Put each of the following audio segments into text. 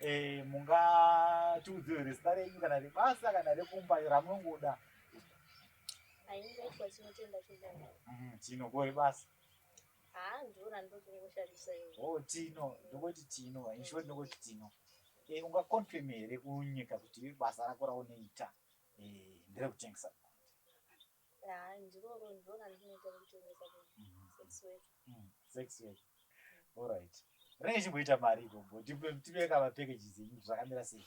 Eh, mungatiudzire rezita renyu kana rebasa kana rekumba ramunongoda aingaitwa chinotenda chidai Mhm, tino ko rebasa haa ndora ndokungoshandisa iwe oh tino ndokoti tino inshort ndokoti tino Eh, ungaconfirm here kunyika kuti basa rako raunoita eh, nderekutengesa Haa ndiroro ndiro randinoita rekutengesa sex work. Mm, sex work. All right. Renge chimboita mari ikoko. Tipe kama packages enyu zvakamira sei?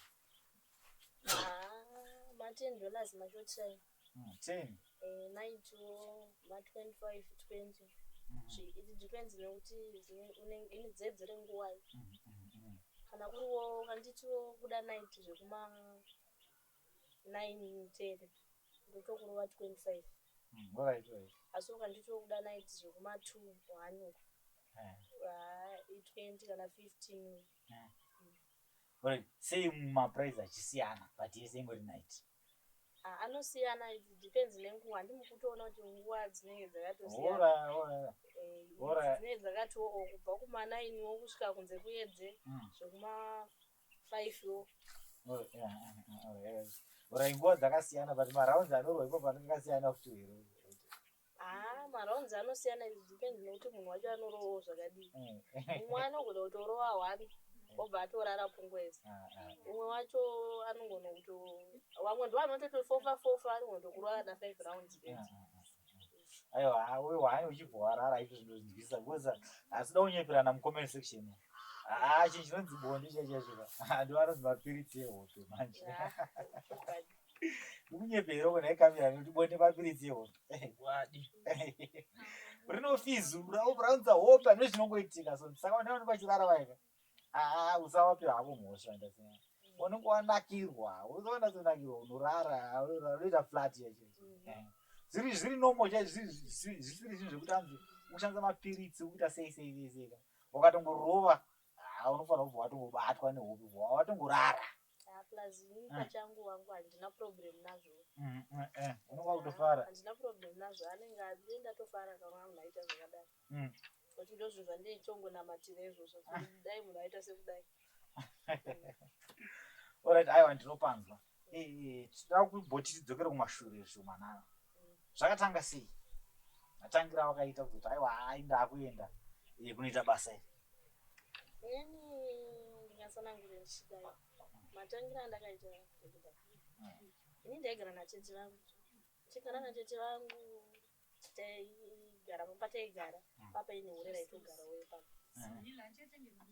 Haa, ma 10 dollars machotirayi. Mm, 10. Eh, maitiwo ma 25, 20. Mm -hmm. It depends nekuti une dzedze renguwai. Mm -hmm. Kana kuriwo kanditiwo kuda night zvekuma nine muteere ndotokurova 25 Alright right. asi ukanditi wekuda night zvekuma two one uko Eh. haa i 20 kana 15 uko. Alright. Sei maprice achisiyana but yese ingori night. Ah, anosiyana it depends nenguva handimukutoona kuti nguva dzinenge dzakatosiyana Ora ora. Eh, Bora. dzinenge dzakatiwo o kubva kumanainiwo kusvika kunze kuedze Mm. zvekuma Ora nguva dzakasiyana but marounds anorwa ipo panenge kasiyana futi here? Ah, marounds anosiyana it depends nekuti munhu wacho anorovawo zvakadii. Mm. Umwe anogona kutorova one obva atorara pungwezi. Ah, ah. Umwe wacho anogona kuto vamwe ndovanototofofa fofa anogona kutokurova na five rounds Ah, bedzi. ah, ah. aiwa haa wewe hai uchibva warara izvo zvinonzwisa because asi da kunyeperana mucomment section umu. haa chinhu chinonzi bonde chaicho chaicho ka haa ndiwo anonzi mapiritsi ehope manje ndikunyepera uko nhai kamira nekuti bonde mapiritsi ehope wadi rinofizu raunza hope pane zvinongoitika so saka vanaonekwa chirara vaika haa usawapi havo mhosva ndasina unenge wanakirwa unoona sonakirwa unorara unoita flat yacho zviri zviri nomo chaizvo zvisiri zvinhu zvekuti anzi ukushandisa mapiritsi ukuita sei sei sei sei wakatongorova haa unofanira kubva watongobatwa nehope bva watongorara unenge wakutofara Mm. But ndozvo zvanditongonamatira izvozvo kuti dai munhu aita sekudai. Alright, aiwa ndinopanzwa. Eh, tinoda kubhoti tidzokere kumashure zvomanana. Zvakatanga sei? Matangira awakaita kuti aiwa ainda akuenda eh, kunoita basa iri. Ini ndingatsanangure ndichidai. Matangira andakaita kuda. Mm. Ini ndaigara natete vangu. Chigara natete vangu taigara pamba taigara mm. papa ine hure raitogarawo ipapo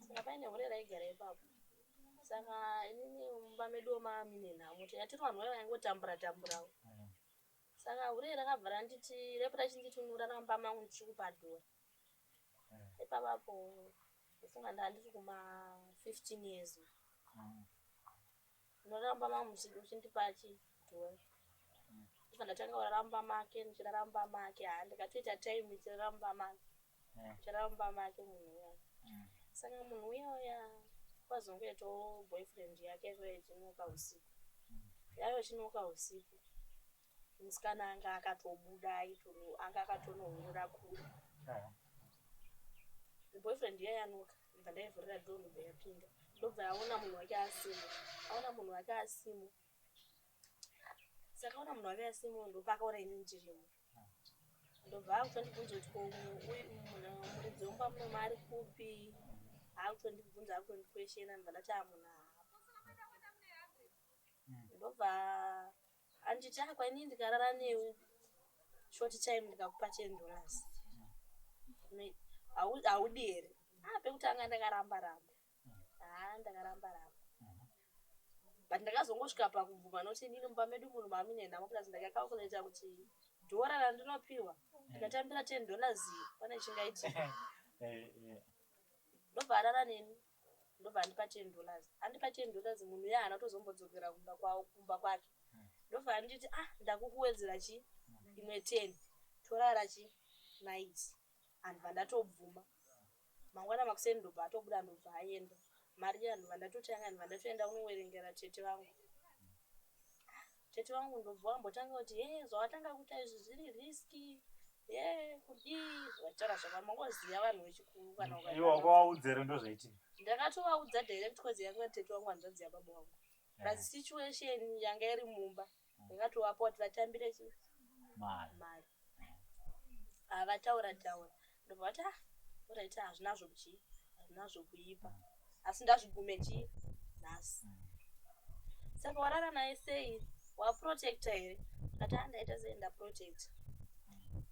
saka paine hure raigara ipapo saka inini mumba medu womamine nhamo tiyatiri vanhu vaye vaingotambura tamburawo mm. saka hure rakabva randiti repo rachinditunura ramba mangu ndichikupadhura mm. ipapapo ndofunga ndandiri kuma 15 years Munoramba ma muchindipa chi dhori ndobva ndatanga kurara mumba make ndichirara mumba make haa ndikatoita time ndichirara mumba make ndichirara mumba make munhu uya saka munhu uya uya kwazongoitawo boyfriend yake yaiva yechinoka usiku yaiva chinoka usiku musikana anga akatobuda aitono anga akatonohurira kure boyfriend iya yanoka ndobva ndaivhurira door ndobva yapinda ndobva yaona munhu wake asimo aona munhu wake asimo sakaona munhu wake asimo ndopa akaona ini ndirimo ndobva akutondibvunza kuti ko muridzi womba muno maari kupi akutondibvunza akutondikweshena ndobva ndati amunhu hapa ndobva Handiti chako ini ndikarara newe short time ndikakupa ten dollars haudi here ah pekutanga ndakaramba ramba haa ah, ndakaramba ramba but ndakazongosvika pakubvuma nokuti inini mumba medu munhu mamine nhamo plus ndakacalculata kuti dhora randinopiwa ndikatambira ten dollars pane chingaitika eh, eh. ndobva arara neni ndobva andipa ten dollars andipa ten dollars munhu uya haana kutozombodzokera kumba kwavo kumba kwake ndobva anditi ah ndakukuwedzera chii imwe ten torara chi night andibva ndatobvuma mangwana makuseni ndobva atobuda ndobva aenda mari iya ndobva ndatoti yanga ndibva ndatoenda kunowerengera tete vangu Tete vangu ndobva vambotanga kuti hee zvawatanga kuita izvi zviri risky hee kudii vachitaura zvavo vamwe voziva vanhu vechikuru kana uka- iwe wakawaudza here ndozvaitika ndakatovaudza direct cause yanga iri tete wangu hanzvadzi yababa wangu plus situation yanga iri mumba ndakatovapa kuti vatambire chi mari mari havataura taura ndobva vati ah oraiti hazvinazvo kuchii hazvinazvo kuipa asi ndazvigume chii nhasi mm. saka warara naye sei waprotecta here ati andaita ah, sei ndaprotecta mm.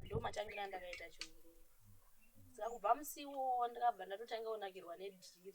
ndo matangira ndakaita chiuru saka kubva musiwo ndakabva ndatotanga kunakirwa nedhiri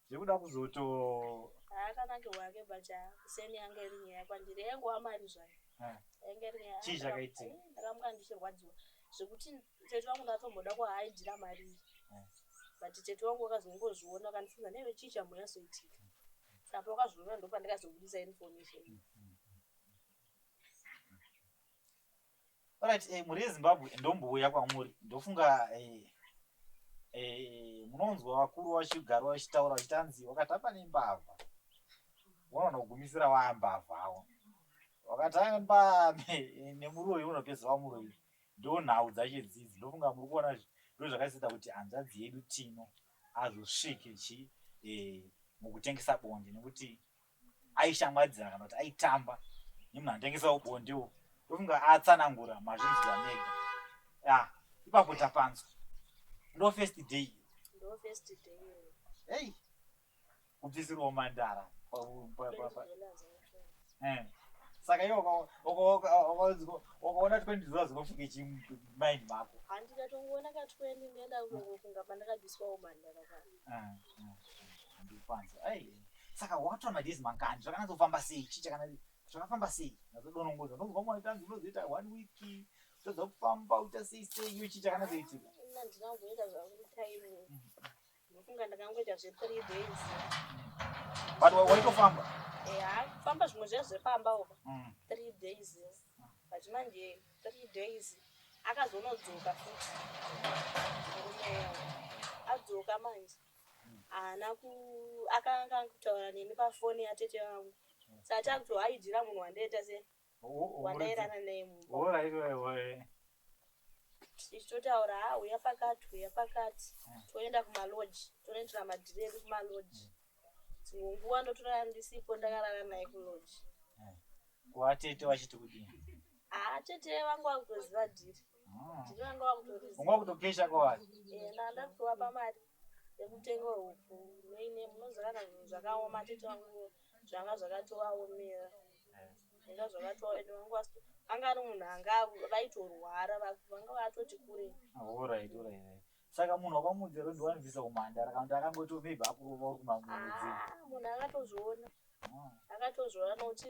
zvekuda kuzoto haakanake wake but kuseni yanga iri nyaya kwandiri yaingova mari zvayo eh. yainga iri nyaya chii zvakaitika eh, ndakamuka ndichirwadziwa zvekuti tete vangu ndatomboda kuhaaidira mari iyi eh. but tete wangu wakazongozviona akandifunza neve chii chambonyasoitika saka pakazviona ndopandikazobudisa information mm -hmm. Alright, eh, muri ezimbabwe ndombouya kwamuri ndofunga eh, eh, munonzwa vakuru vachigara vachitaura vachitanzi wakatamba nembavha unoona kugumisira waambavha awo wakatamba ne- nemuroyi unopedza wamuroyi ndo nhau dzacho dzidzi ndofunga muri kuona zvi- ndo zvakaisita kuti hanzvadzi yedu tino azosvike chi eh, mukutengesa bonde nekuti aishamwaridzana kana kuti aitamba nemunhu anotengesa ubondewo ndofunga atsanangura mazvinzwa mega ya ipapo tapanzwa ndo first day hey kubvisirwa mandara eh. saka iwe ukaona twendi zuva zinofunge chimaini mako handikatongoona katwendi ndenda kungofunga pandakabviswa umandara saka wakatora madays mangani zvakanazofamba sei chii chakana zvakafamba sei nazodonongoza ndonzwa mwana tanzi unozoita one week todza kufamba uita sei sei iyo chii chakanazoitika but waitofamba famba zvimwe zviya zvepamba uka mm. three days but manje Three days akazonodzoka futi murume adzoka manje haana ku akanga akutaura neni pafoni yatete vangu saka takuto haidira munhu wandaita se wandairana naye mumba tichitotaura ha uya pakati uya pakati hmm. toenda kumaloji tonoitira madhiri edu kumaloji hmm. dzimwe nguva ndotorara ndisipo ndakarara naye kuloji hmm. watete vachiti kudini Ah, tete vangu vakutoziva dhiri. Mm. Dhiri vanga vakutoriziva. Unga kutopesha kwawari. Eh, ndanda kutovapa mari yekutenga huku. Neine munoziva kana zvinhu zvakaoma tete vangu zvanga zvakatovaomera. Eh. Zvanga zvakatovaomera ende vangu vasi anga ari munhu anga vaitorwara vanga vatoti kure. Oh, right, right, right. Saka munhu wakamuudza kuti ndiwanibvisa kumhandara kana kuti akangoti maybe akurova uri kumamuudzi. Ah, munhu akatozviona. Mm. Akatozviona nokuti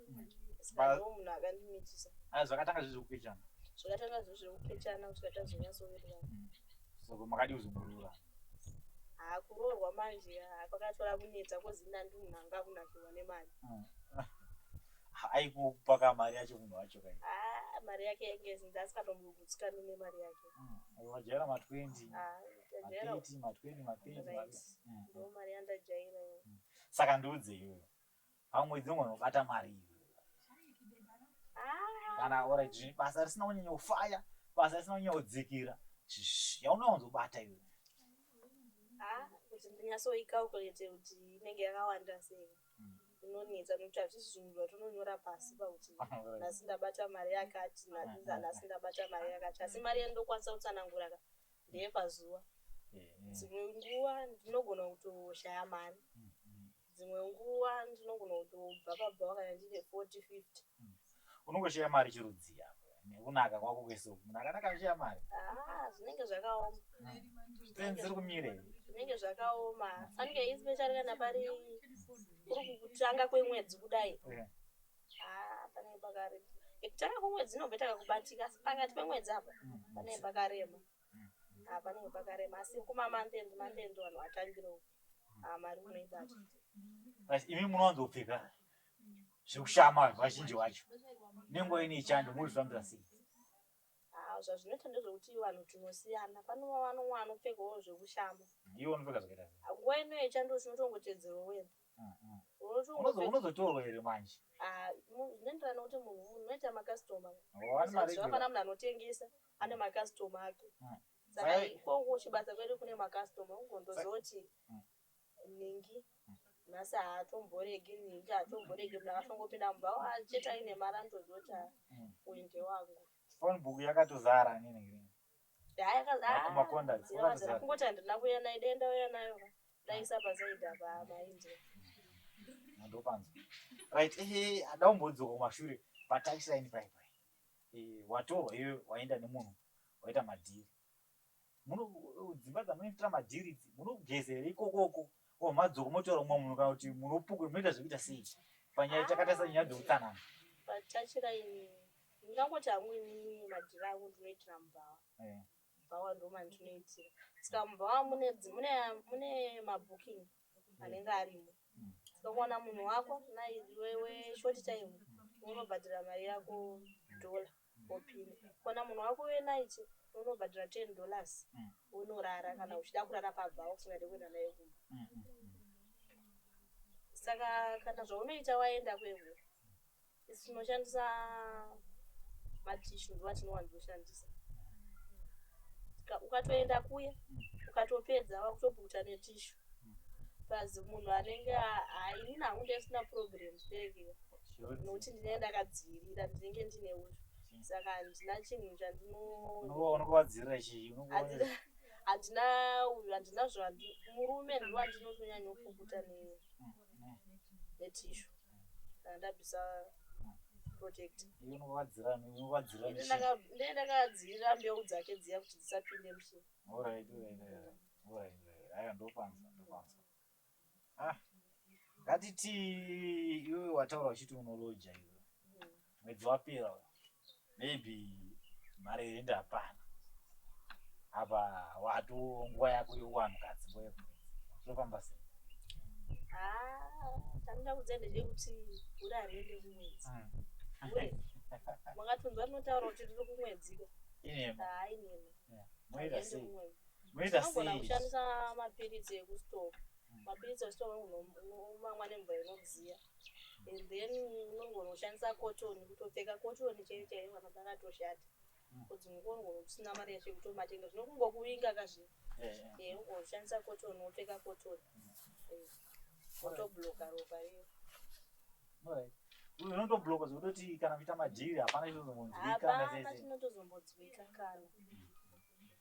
ah, zvakatanga zvezvekupechana zvakatanga zvezvekupechana kusvika tazonyatsovererana mm. soko makadii kuzoburura hakuroorwa ah, manje ah, kwakatora kunetsa kozinandi munhu anga akunakirwa nemari mm. aikupa ka mari yacho munhu wacho kai mari yake yainge zinzi asikatomugutsikani nemari yake mm. wajaira ma 20 ma 20 ma 30 ndo mari yandajaira saka ndiudze iyoyo Pamwedzi unogona kubata mari iyo. Kana alright zviri basa risina kunyanya kufaya, basa risina kunyanya kudzikira. Shh, Yaunowanzobata iyo. Ah, kuti ndinyasoicalculate kuti inenge yakawanda sei inonetsa nekuti hazvisi zvinhu zvatinonyora pasi pakuti nhasi ndabata mari yakati na- nhasi ndabata mari yakati asi mari yandinokwanisa kutsanangura ka ndeyepazuva Eh, eh. dzimwe nguva ndinogona kutoshaya mari dzimwe nguva ndinogona kutobva pabva vakanya ndine 40 50 mm. unongoshaya mari chirudzii apo nekunaka kwako kwese uku munhu akanaka anoshaya mari ah, zvinenge zvakaoma penzi iri kumire zvinenge zvakaoma anenge especially kana pari kuri kutanga kwemwedzi kudai ah, panenge pakarema ekutanga kwemwedzi inobva takakubatika asi pakati pemwedzi apa mm, panenge pakarema ah, panenge pakarema asi kuma mandend mandend vanhu vatangire uku ah, mari unoibata asi imi munowanzopfeka zvekushama vanhu vazhinji vacho nenguva ine chando mozvifambira sei ah, zvazvinoita ndezvekuti vanhu tinosiyana pane vanomwe anopfekawo zvekushama iwe unopfeka zvakaita nguva ino yechando tinotongotedzero wena unozotorwa here manje ah, zvinoenderana nokuti munhu unoita makastoma hapana munhu anotengesa ane makastoma ake mm. saka ikoko chibasa kwedu kune makastoma ugondozoti mm. ningi mm. nhasi haatomboregi ningi haatomboregi munhu akatongopinda mumba achete aine mari anotozoti uinde wangu phone book yakatozara nini kungoti handina kuuya nayo dai ndauya nayo ndaisa pasaidi apa maindi ndopanzwa right ehe ada umbodzoka kumashure pataisaini pai pai eh, watorwa iwe waenda nemunhu waita madhiri dzimba dzamunoitira madhiri idzi munogezera ikokoko Ko madzoko motaura mumwe munhu kana kuti munhu wepukwe munoita zvekuita sei panyaya takatarisa nyaya dzeutsanana? Patachira ini ndingangoti hangu inini madhiri angu ndinoitira mubhawa. Eh. Mubhawa ndo mandinoitira. Saka mubhawa mune mune mune mabooking anenge arimo. Mm. Saka kuwana munhu wako na iwewe short time unobhadhara mari yako dollar. wopinda kuona munhu wako wenight unobhadhara ten dollars wonorara kana uchida kurara pabhawa usingade kuenda naye kumba saka kana zvaunoita waenda kwevhu isi tinoshandisa matishu ndiwo atinowanzoshandisa ukatoenda kuya ukatopedza wakutopukuta netishu plus munhu anenge ini nangu ndisina problem zvireviwa nokuti ndinenge ndakadzivirira ndinenge ndine uyu saka handina chinhu chandinonokuvadzivirira chii handina uyu handina zvandi murume ndiwo andinotonyanya kupukuta neiwe netishu kana ndabvisa protectndakadzirira mbeu dzake dziya kuti dzisapinde muchii Ah, ngatiti iwe wataura uchiti unoloja iwe mwedzi wapera maybe mari yenda hapana apa wato nguva yako yowanu kadzi nguva yeko zvinofamba sei tanida ah, kudzenda zvekuti uri arende kumwedzi hmm. makatonzwa rinotaura kuti riri kumwedziko hainema ah, Zvinoita sei? Unogona kushandisa mapiritsi ekustore. Mapiritsi ekustore unomamwa nemvura inodziya. And then unogona kushandisa cotton kutopfeka cotton chaiyo chaiyo kana pakatoshata. Kodzi mm. unogona kusina mari yacho kutomatenga zvinokungokuvinga kazvino. Eh, eh. Eh, unogona kushandisa cotton wopfeka cotton. Mm. Eh. Wotobloka ropa riya. Right unotobloka zvekutoti kana kuita madhiri hapana chinozombonzwika hapana chinotozombodzwika kana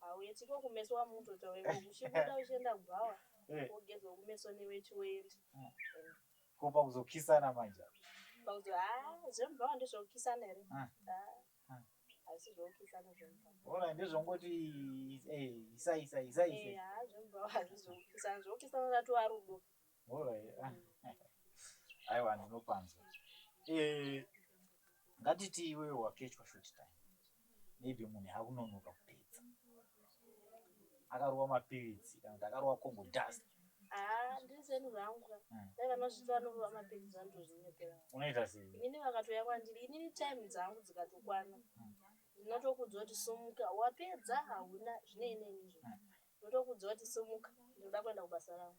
Hauye tsiko kumeso wamutoita wewe uchibuda uchienda kubhawa wogezwa kumeso newechi woenda. Ko pakuzokisana manje apa. Pakuzo haa zvemubhawa ndezvekukisana here? Haa hazvisi zvekukisana zvemubhawa. Ona ndezvongoti eh isa isa isa isa. Eh haa zvemubhawa hazvisi zvekukisana zvekukisana ratova rudo. Aiwa ndinopanzwa. Eh ngatiti iwe wakechwa short time. Maybe munhu akunonoka kupedza. Akarova mapiritsi kana kuti akarova kongo dust. Ah, ndiri zvenhu zvangu ka. Mm. Dai vanosvitsa vanorova mapiritsi vanotozvinyepera. Unoita sei? Inini vakatouya kwandiri, inini time dzangu dzikatokwana. Mm. Ndinotokuudza kuti sumuka, wapedza hauna zvine inenizvo. Mm. Ndinotokuudza kuti sumuka, ndinoda kuenda kubasa rangu.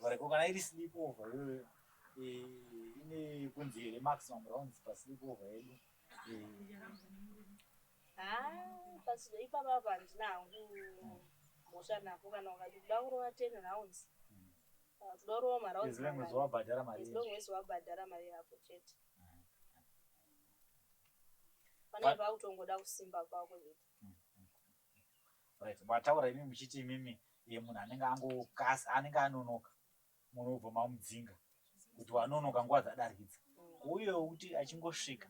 Vareko kana iri sleep over iyoyo eh, ine kunzi here maximum rounds pasleep over yedu ipapapa handina hangu mhosva nako kana ukati kuda kurova ten rounds kuda kurova maroundswabhadhara mari yako chete panaiva kutongoda kusimba kwako chete Right mataura imi muchiti imimi munhu anenge angokas anenge anonoka munhu obva mamudzinga kuti wanonoka nguva dzadarikidza uye wekuti achingosvika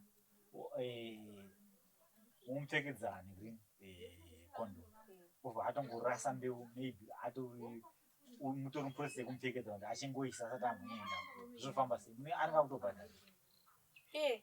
womupfekedza eh, haniri eh, condom obva atongorasa mbeu maybe ato mutori muprocess yekumupfekedza kuti achingoisa asati amuenda zvinofamba sei anenge akutobhadhara eh,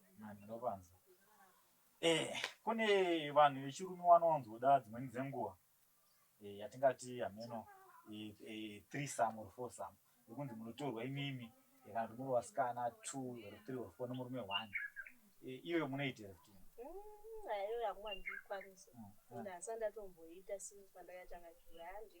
Kune vanhu vechirume wanowanzoda dzimweni dzenguva eh, yatingati hameno eh, eh, threesome or foursome yekunzi munotorwa imimi eh, kana kuti muri vasikana two or three or four nemurume one iyoyo munoitira kuti mm, ayo yangu handikwanisa mm, mm. ndasa ndatomboita since pandakatanga kuyandi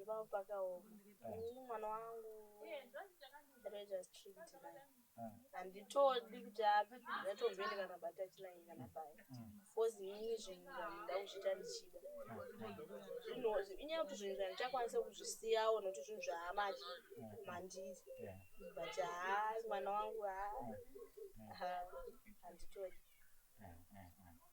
Ipapo pakaoma. Ini mwana wangu Rogers treat naye. Handitodi kuti ape ndatomboende kana batach naye kana paya. Because ini zvinhu ndandida kuzviita ndichida. Zvino inyaya kuti zvinhu zvandichakwanisa kuzvisiyawo nokuti zvinhu zvaamati mandiri. Yeah. But haa mwana wangu haa. Haa handitodi. Mm, mm, mm.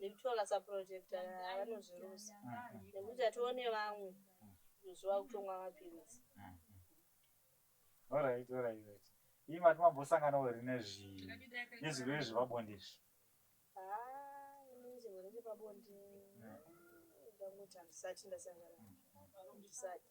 nekutora saproject vanozviruza nekuti hatione vamwe izvo vakutomwa mapiritsi orit orit ii mati mambosanganawo here nezvi nezvirwere zvepabonde izvi nezvirwere zvepabonde ndanguti handisati ndasangana ndisati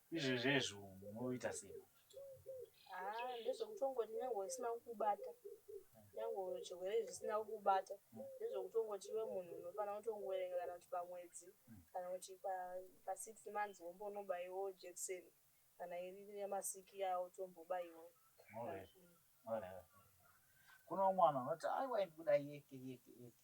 Izvi zvezvo unoita sei? Haa ndezvekutongoti nyangwe usina kukubata nyangwe zvirwere izvi zvisina kukubata ndezvekutongoti iwe munhu unofanira kutongoverenga kana kuti pamwedzi kana kuti pasix months wombonobaiwo jekiseni kana iri yamasiki yawo tombobaiwo kune umwe vanhu vanoti aiwa iri kuda yeke yeke yeke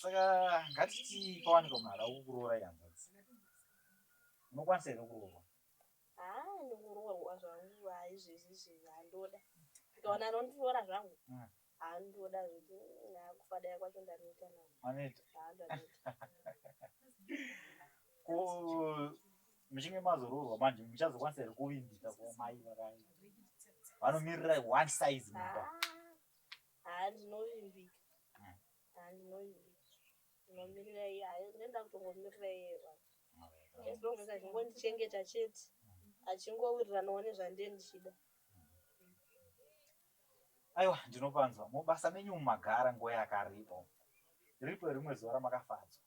saka ngatiti pawanika munhu ada kukuroora ihanzvadzi unokwanisa here kuroorwa ndikuroorwa zvangu haizvezizvi handoda ndikaona anondiroora zvangu mm. handoda zvekuti akufa daya kwacho ndanoita muchinge mazoroorwa manje muchazokwanisa here kuvimbika kumai vakai vanomiririra one size mumba ah. Haa ndinovimbika haa ndinovimbika ndinomirira iye haa ndinenge ndakutongomirira iye baba as long as achingondichengeta chete achingowiriranawo nezvandiye ndichida aiwa ndinopanzwa mubasa menyu umu magara nguva yakareba umu riripo rimwe zuva ramakafadzwa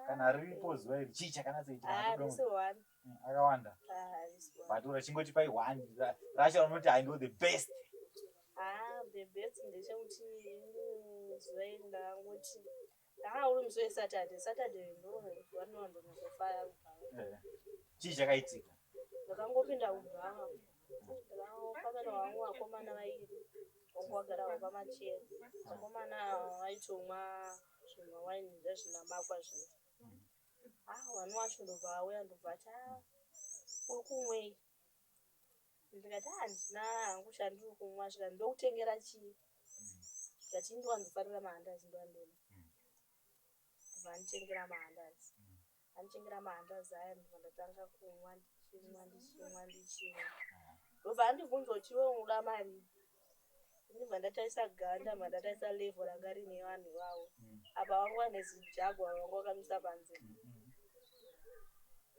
kana riripo zuva iri chii chakanatsoitaaakawanda but rachingoti pai one racho raunoti i know the best ah, the best ndechekuti mm, zuva iri ndakangoti aa uri musi wesaturday saturday ndowanondonakofaya eh, chii chakaitika ndakangopinda kubhanga ndakangopamana wangu vakomana vairi wangu wagara wapamachero vakomana vaitomwa zvemawaini zvezvinamakwa zviya ah mwana wacho ndobva auya ndobva ati ah uri kumwei ndikati ah handina hangu chandiri kumwa zvika ndokutengera chii ndikati ndiwanzofarira mahandazi ndiwandema ndobva anditengera mahandazi Andichengera mahandazi aya ndobva ndatanga kumwa ndichimwa ndichimwa ndichimwa ndobva andibvunza kuti iwe unoda mari ndibva ndataisa ganda bva ndataisa levo ranga rine vanhu ivavo mm. apa vanga vane zijagwa vanga vakamisa panze mm, mm.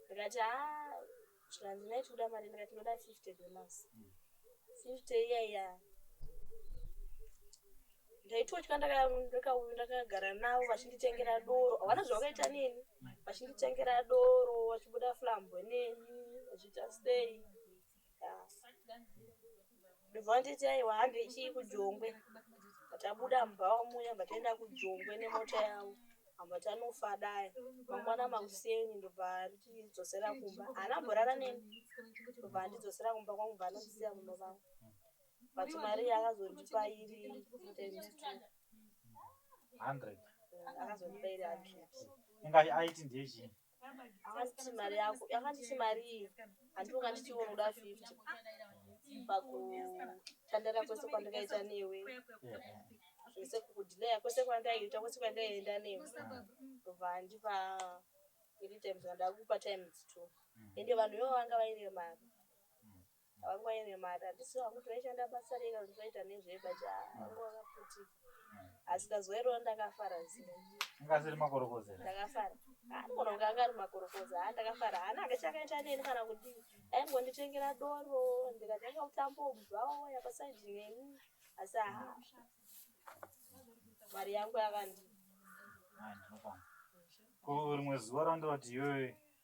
ndikati haa zvikanzi nhai tikuda mari ndikati tinoda 50 dollars 50 iya iya ndaitotya ndakagara navo vachinditengera doro havana zvavakaita neni vachinditengera doro vachibuda flambo neni vachiita sei ndobva vanditi aiwa hambe chii kujongwe tabuda mubhawa muya bva taenda kujongwe nemota yavo amba tanofa dai mangwana makuseni ndobva andidzosera kumba haana mborara neni ndobva andidzosera kumba kwangu bva anondisiya muno vangu but mari yakazondipa iri times two hundred akazondipa iri hundred inga aiti ndiye chii akanditi mari yako akanditi marii handiwo kanditi iwe unoda fifty pakutandara kwese kwandakaita newe zvese kukudhileya kwese kwandaiita kwese kwandaienda newe ndobva andipa iri times andakupa times two ende vanhu ivo vanga vaine mari Wangu aine mari handisi wangu taishanda basa rega kuti vaita nezveba cha wangu wakaputika asi kazuva iroro ndakafara zii ungasiri makorokoza ndakafara anogona kunge anga ari makorokoza ha ndakafara haana anga chakaita neni kana kudii aingonditengera doro ndikatanga kutambawo bhawo yapasaidi neni asi ha mari yangu yakandi Ah, ndinofamba. Ko rimwe zuva randoti iwewe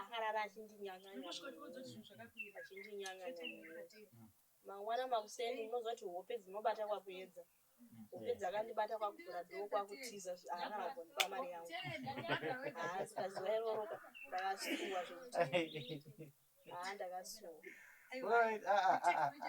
akarara achindinyanyanyaachindinyanyanyamangwana makuseni unozoti hope dzinobata kwakuedza hope dzakandibata kwakuvhura dhoo kwakutiza aakanagondipa mari yangu haasi pazuva iroroka ndakasuwa zvekuti haa ndakasuwa